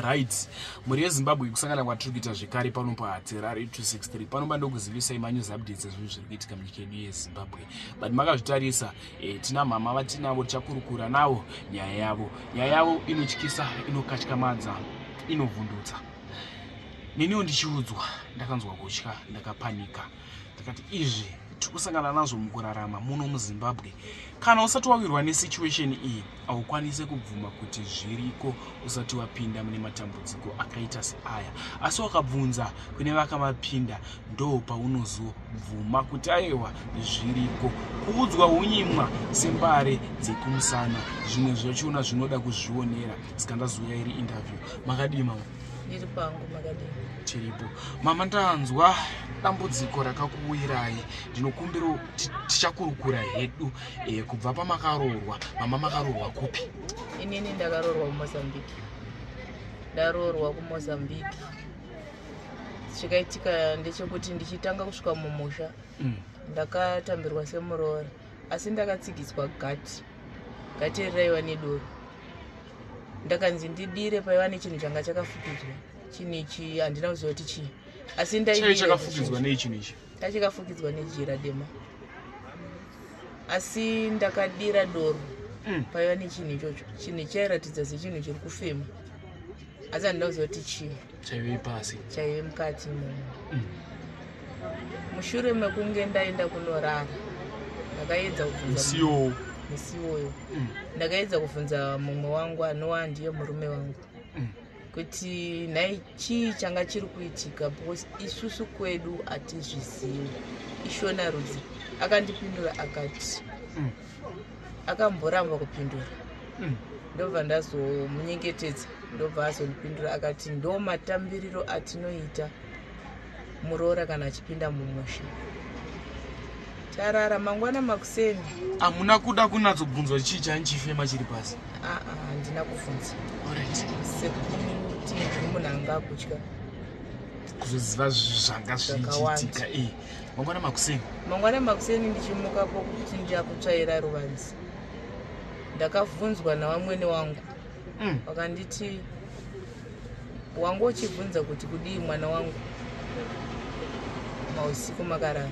right mhuri yezimbabwe kusangana kwatiri kuita zvekare pano pahaterari 263 panoba ndokuzivisai manews updates ezvinhu zviri kuitika munyika yedu yezimbabwe but makazvitarisa e, tina mhama vatinavo tichakurukura navo nyaya yavo nyaya yavo inotyisa inokatyamadza inovhundutsa neniwo ndichiudzwa ndakanzwa kutya ndakapanika ndikati izvi tiri kusangana nazvo mukurarama muno muzimbabwe kana usati wawirwa nesituation iyi haukwanise kubvuma kuti zviriko usati wapinda mune matambudziko akaita seaya asi wakabvunza kune vakamapinda ndo paunozobvuma kuti ayewa zviriko kuudzwa unyimwa sembare dzekumusana zvimwe zvachona zvinoda kuzvionera saka ndazuya iri interview makadii mama ndiri pangu makadii tiripo mama ndanzwa dambudziko rakakuwirai ndinokumbira tichakurukura hedu e, kubva pamakaroorwa mama makaroorwa kupi inini ndakaroorwa kumozambique ndaroorwa kumozambique chikaitika ndechekuti ndichitanga kusvika mumusha mm. ndakatambirwa semuroora asi ndakatsigiswa gati gati riraiva nedoro ndakanzi ndidire paiva nechinhu changa chakafukidzwa chinhu ichi handina kuziva kuti chii asi ndaichakafukidzwa nei chinhu ichi ndachakafukidzwa nejira dema asi ndakadira doro mm. paiva nechinhu ichocho chinhu chairatidza sechinhu chiri kufema asi handina kuziva kuti chii chaive ipasi chaive mukati muno mm. mushure mekunge ndaenda kunorara ndakaedza kusioo musi iwoyo mm. ndakaedza kubvunza mumwe wangu anova ndiye murume wangu mm. kuti nhai chii changa chiri kuitika because isusu kwedu hatizvizivi ishona rudzi akandipindura akati mm. akamboramba kupindura hmm. ndobva ndazomunyengetedza ndobva azondipindura akati ndo matambiriro atinoita muroora kana achipinda mumusha tarara mangwana makuseni hamuna kuda kunatsogubvunzwa chii chanichifema chiri pasi aa handina kubvunza sekuti munhu anga akutya kuzoziva zvanga zvichiitika ee eh. mangwana makuseni mangwana makuseni ndichimuka pokuchinja kutsvaira ruvanzi ndakavhunzwa navamwene wangu mm. vakanditi wangu uchibvunza kuti kudii mwana wangu mausiku makarara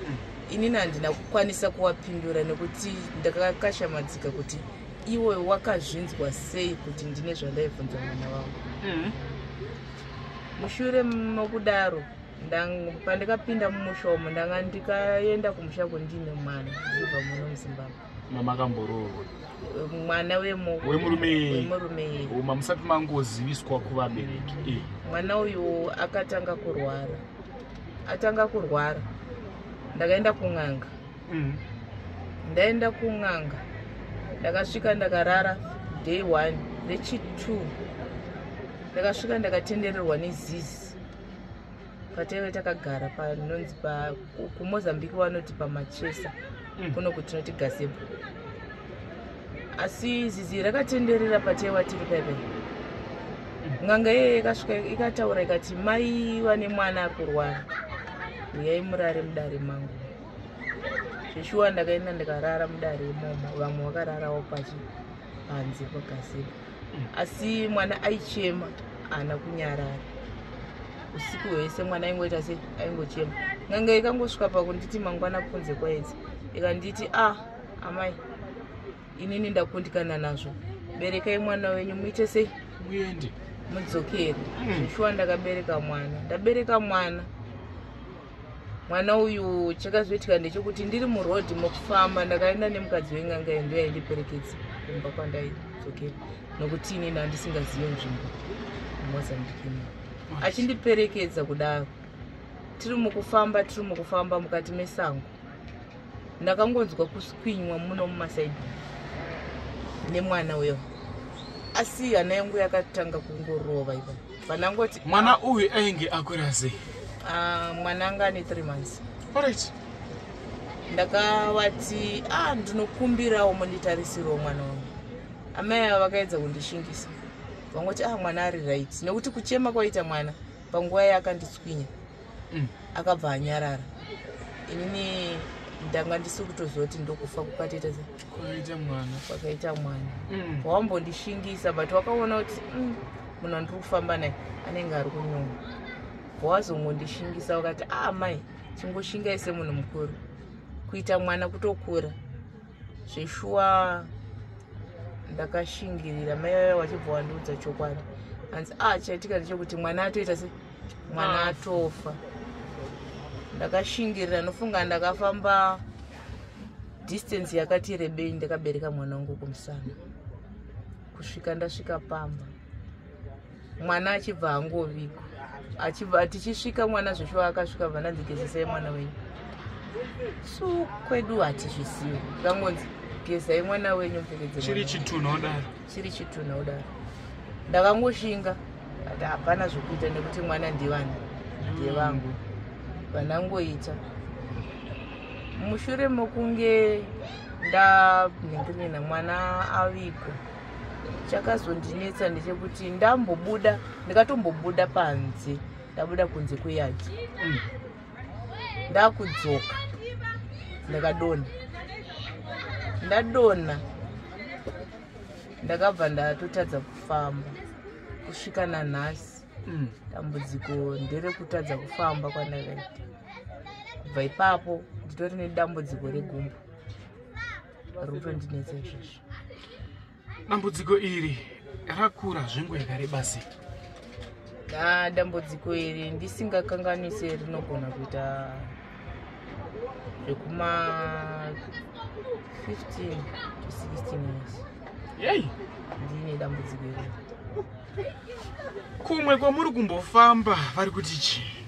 mm. inini handina kukwanisa kuwapindura nekuti ndakakashamadzika kuti iwe wakazvinzwa sei kuti ndine zvandaibvunza mwana wangu mm. mushure mokudaro pandikapinda mumusha umu ndanga ndikaenda kumusha kundiine mwana zibva muno muzimbabwe mamakamboroorwa mwana wemurumeuma musati mangoziviswa kuvabereki eh. mwana uyu akatanga kurwara atanga kurwara ndakaenda kun'anga mm. ndaenda kun'anga ndakasvika ndakarara day one nechi two ndakasvika ndakatendererwa nezizi pataive takagara panonzi kumozambique vanoti pamachesa mm. kuno kuti tinoti gazebo asi zizi rakatenderera pataiva tiri paipai mm. n'anga iye ikasvika ikataura ikati mai vane mwana akurwara uyai murare mudare mangu zveshuwa ndakaenda ndikarara mudare imomo vamwe vakararawo pachi panze pagazebo asi mwana aichema haana kunyarara usiku hwese mwana aingoita se aingochema ngange ikangosvika pakunditi mangwana kunze kwaedzi ikanditi a ah, amai inini ndakundikana nazvo berekai mwana wenyu muite sei muende mudzokere hmm. zvishuwa ndakabereka mwana ndabereka mwana mwana uyu chakazoitika ndechekuti ndiri muroad mokufamba ndakaenda nemukadzi wen'anga yendo yaindiperekedza kumba kwandaidzokera nokuti inini andisingazive nzvimbo mozambikimo achindiperekedza kudaro tiri mukufamba tiri mukufamba mukati mesango ndakangonzwa kuswinywa muno mumasaidi nemwana uyo asi hana yangu yakatanga kungorova ipa pandangoti mwana uyu ainge akwira sei ah, mwana anga ane three months orit ndakavati a ah, ndinokumbirawo monditarisirwo mwana wangu amai ava vakaedza kundishingisa vangoti a ah, mwana ari right nekuti kuchema kwaita mwana panguva yaakanditswinya mm. akabva anyarara inini ndanga ndisi kutoziva kuti ndokufa kukatita kwakaita mwana kwakaita mwana mm. wambondishingisa but wakaona kuti mm, munhu andiri kufamba naye anenge ari kunyuma wazongondishingisa wakati a ah, mai chingoshingai semunhu mukuru kuita mwana kutokura zveshuwa ndakashingirira mai vaya vachibva wandiudza chokwadi hanzi a ah, chaitika ndechekuti mwana atoita se mwana ah. atofa ndakashingirira nofunga ndakafamba distance yakati rebei ndakabereka mwana wangu kumusana kusvika ndasvika pamba mwana achibva hangoviko achibva tichisvika mwana zveshuwa akasvika vananzi gezesai mwana wenyu so kwedu hatizvizivi kangonzi gezai mwana wenyu mupfekedzechiri chitunhu odaro chiri chitunha kudaro ndakangoshinga ati hapana zvokuita nekuti mwana ndivana ndiye mm. vangu vanangoita mushure mokunge ndanhengerena mwana aviko chakazondinetsa ndechekuti ndambobuda ndikatombobuda panze ndabuda kunze kweyadi mm. ndakudzoka ndakadonha ndadonha ndakabva ndatotadza kufamba kusvika nanhasi mm. dambudziko nderekutadza kufamba kwandakaita kubva ipapo nditori nedambudziko regumbo rutondinetsa izvozvo dambudziko iri rakura zvengo yakareba sei na dambudziko iri ndisingakanganise rinogona kuita zvekuma 15 to 16 years yei ndine dambudziko iri kumwe kwamuri kumbofamba vari kuti chii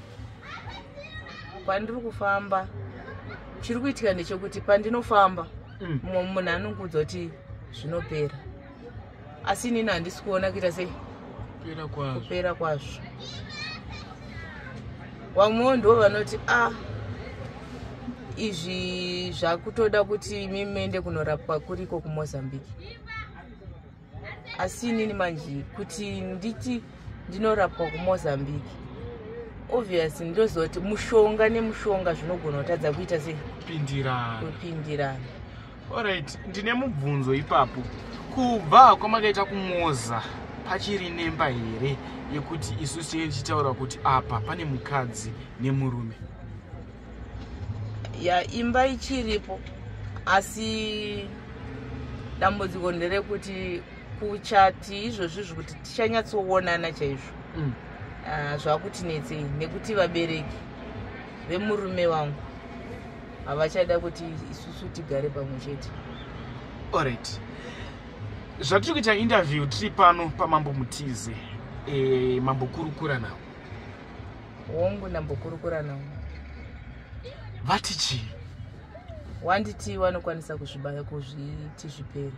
kwandiri kufamba chiri kuitika ndechekuti pandinofamba mm. mumwe munhu anongoudza kuti zvinopera asi inini handisi kuona kuita sei kupera kwazvo vamwewo ndivo vanoti a ah, izvi zvakutoda kuti mimende kunorapwa kuriko kumozambique asi inini manje kuti nditi ndinorapwa kumozambique obvious ndoziva kuti mushonga nemushonga zvinogona kutadza kuita sekupindirana orit ndine mubvunzo ipapo kubva kwamakaita kumoza pachiri nemba here yekuti isu tinenge tichitaura kuti apa pane mukadzi nemurume ya imba ichiripo asi dambudziko nderekuti kuchati izvozvi zvekuti tichanyatsoonana chaizvo mm. ah, zvakutinetsei nekuti vabereki vemurume wangu havachada kuti isusu tigare pamwe chete orit zvatiri kuita interview tiri pano pamambo mutize e, mambo kurukura nawo hongu ndambokurukura navo vati chii wanditi vanokwanisa kuzvibaya kuzviti zvipere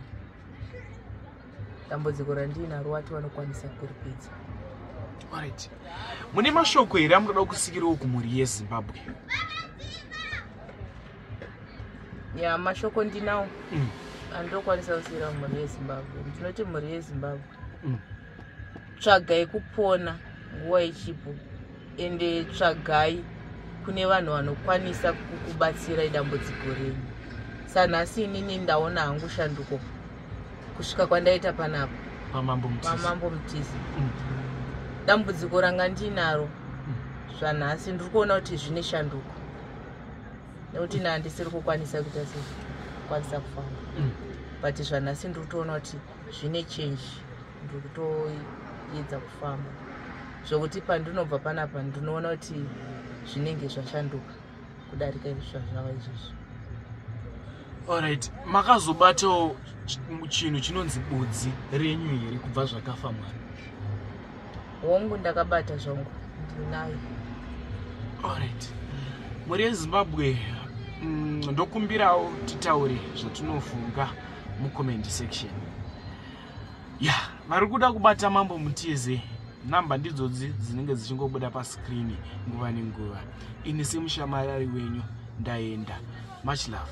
dambudziko randiinaro wati vanokwanisa kuripedza orit mune mashoko here amunoda kusikirawo kumhuri yezimbabwe ya mashoko ndinawo mm. andokwanisa kusikira mhuri yezimbabwe ndinoti mhuri yezimbabwe mm. tsvagai kupona nguva ichipo ende tsvagai kune vanhu vanokwanisa kukubatsirai dambudziko renyu sanhasi inini ndaona hangu shanduko kusvika kwandaita panapa pamambo mutizi mm. dambudziko ranga ndiinaro mm. zvanhasi ndiri kuona kuti zvine shanduko nekuti naandisiri kukwanisa kuita sei kukwanisa kufamba mm. but zvanhasi ndiri kutoona kuti zvine change ndiri kutoedza kufamba zvokuti pandinobva panapa ndinoona kuti zvinenge zvashanduka kudarika izvi zvazvava izvozvi allright makazobatawo chinhu chinonzi budzi renyu here kubva zvakafa mwana hongu ndakabata zvangu ndinayo allright mhuri yezimbabwe mm, ndokumbirawo titaure zvatinofunga mucomment section ya yeah, vari kuda kubata mambo muteze number ndidzodzi dzinenge dzichingobuda pascreen nguva nenguva ini semushamarari wenyu ndaenda much love